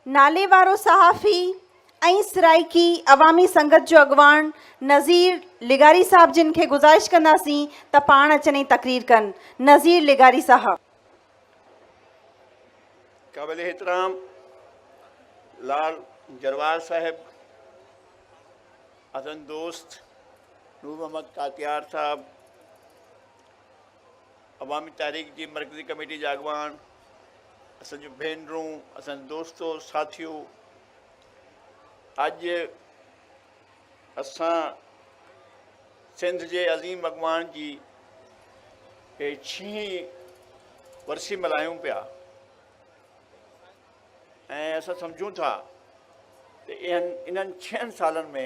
ناليوارو صحافي ۽ سرائيڪي عوامي سنگت جو اڳواڻ نظير لغاري صاحب جن کي گذارش ڪنداسين ته پاڻ اچن ۽ تقرير ڪن نظير لغاري صاحب. قابل احترام لال جروار صاحب، عزن دوست نور محمد ڪاتيار صاحب، عوامي تحريڪ جي مرڪزي ڪميٽي جا اڳواڻ، اسان جون ڀينرون، اسان جا دوستو، ساٿيو! اڄ اسان سنڌ جي عظيم اڳواڻ جي هي ڇهين ورسي ملهايون پيا ۽ اسان سمجهون ٿا ته انهن ڇهن سالن ۾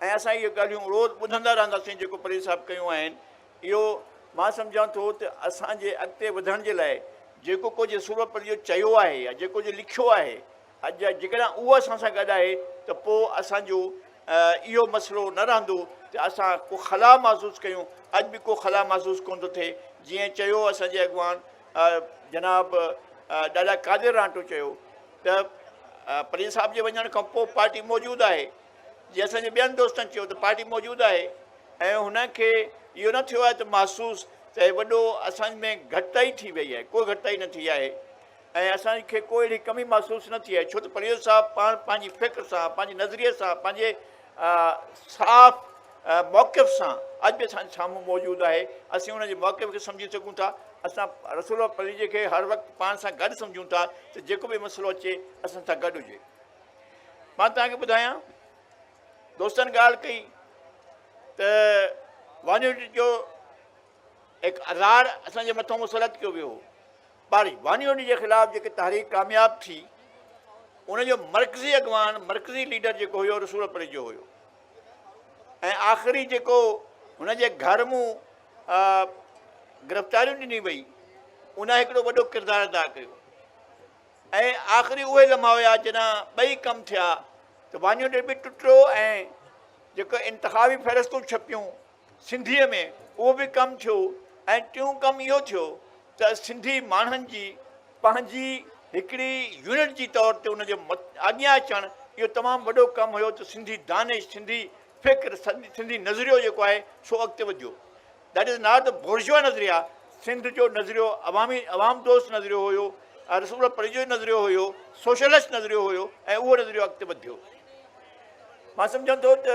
۽ اسان اهي ڳالهيون روز ٻڌندا رهنداسين جيڪو پريز صاحب ڪيون آهن اهو مان سمجهان ٿو ته اسان جي اڳتي وڌڻ جي لاء جيڪو ڪجهه سورپريو چيو آهي يا جيڪو ڪجهه لکيو آهي اڄ جا جيڪڏهن اهو اسان سان گڏ آهي ته پوء اسان جو اهو مسئلو نه رهندو ته اسان ڪو خلا محسوس ڪيون اڄ به ڪو خلا محسوس ڪون ٿو ٿئي جيئن چيو اسان جي اڳواڻ جناب ڏاڏا قادر رانٽو چيو ته پريز صاحب جي وڃڻ کان پوء پارٽي موجود آهي جي اسان جي ٻين دوستن چيو ته پارٽي موجود آهي ۽ هن کي اهو نه ٿيو آهي ته محسوس ته هي وڏو اسان ۾ گهٽتائي ٿي وئي آهي ڪو گهٽتائي نه ٿي آهي ۽ اسان کي ڪو اهڙي ڪمي محسوس نه ٿي آهي ڇو ته پرويز صاحب پاڻ پنهنجي فڪر سان پنهنجي نظريي سان پنهنجي صاف موقف سان اڄ به اسان سامهون موجود آهي اسين ان جي موقف کي سمجهي سگهون ٿا اسان رسول پريجي کي هر وقت پاڻ سان گڏ سمجهون ٿا ته جيڪو به مسئلو اچي اسان سان گڏ هجي مان توهان کي ٻڌايان دوستن ڳالهه ڪئي ته وانيوٽي جو هڪ اظهار اسان جي مٿو مسلط ڪيو ويو پر وانيوٽي جي خلاف جيڪي تحريڪ ڪامياب ٿي ان جو مرڪزي اڳواڻ مرڪزي ليڊر جيڪو هيو رسول پري جو هيو ۽ آخري جيڪو هن جي گهر مون گرفتاريون ڏني وئي ان هڪڙو وڏو ڪردار ادا ڪيو ۽ آخري اهي لمحا هيا جڏهن ٻئي ڪم ٿيا ته وانيوٽيڊ به ٽٽو ۽ جيڪي انتخابي فهرستون ڇپيون سنڌيء ۾ اهو به ڪم ٿيو ۽ ٽيون ڪم اهو ٿيو ته سنڌي ماڻهن جي پنهنجي هڪڙي يونٽ جي طور تي ان جي اڳيان اچڻ اهو تمام وڏو ڪم هيو ته سنڌي دانش سنڌي فڪر سنڌي نظريو جيڪو آهي سو اڳتي وڌيو That is not the Bourgeois نظريا سنڌ جو نظريو عوامي عوام دوست نظريو هيو ۽ رسول الله پريجي جو نظريو هيو سوشلسٽ نظريو هيو ۽ اهو نظريو اڳتي وڌيو مان سمجهان ٿو ته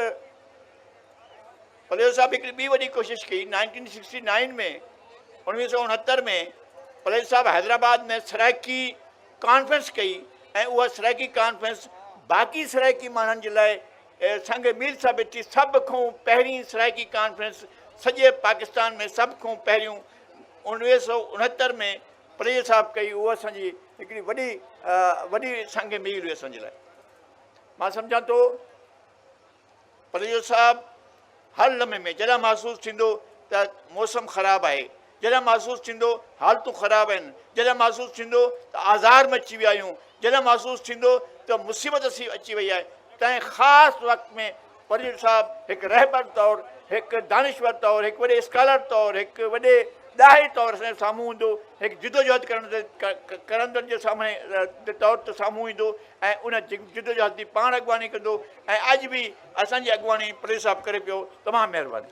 پليو صاحب هڪڙي ٻي وڏي ڪوشش ڪئي نائنٽين سڪسٽي نائن ۾ انويهه سو اڻهتر ۾ پليو صاحب حيدرآباد ۾ سرائيڪي ڪانفرنس ڪئي ۽ اها سرائيڪي ڪانفرنس باقي سرائيڪي ماڻهن جي لاء سنگ ميل ثابت ٿي سڀ کون پهرين سرائيڪي ڪانفرنس سڄي پاڪستان ۾ سڀ کون پهريون اڻويهه سؤ اڻهتر ۾ پريل صاحب ڪئي اهو اسان جي هڪڙي وڏي وڏي سنگ ميل هئي اسان جي لاء مان سمجهان ٿو پريل صاحب هر لمحي ۾ جڏهن محسوس ٿيندو ته موسم خراب آهي، جڏهن محسوس ٿيندو حالتون خراب آهن، جڏهن محسوس ٿيندو ته آزار ۾ اچي ويا آهيون، جڏهن محسوس ٿيندو ته مصيبت اچي وئي آهي، تنهن خاص وقت ۾ پريل صاحب هڪ رهبر طور، هڪ دانشور طور، هڪ وڏي اسڪالر طور، هڪ وڏي ڏاهي طور اسان جي سامهون ايندو، هڪ جدوجهد ڪرندڙ جي سامهون طور تي سامهون ايندو ۽ ان جدوجهد جي پاڻ اڳواڻي ڪندو. ۽ اڄ به اسان جي اڳواڻي پريس صاحب ڪري پيو تمام مهرباني.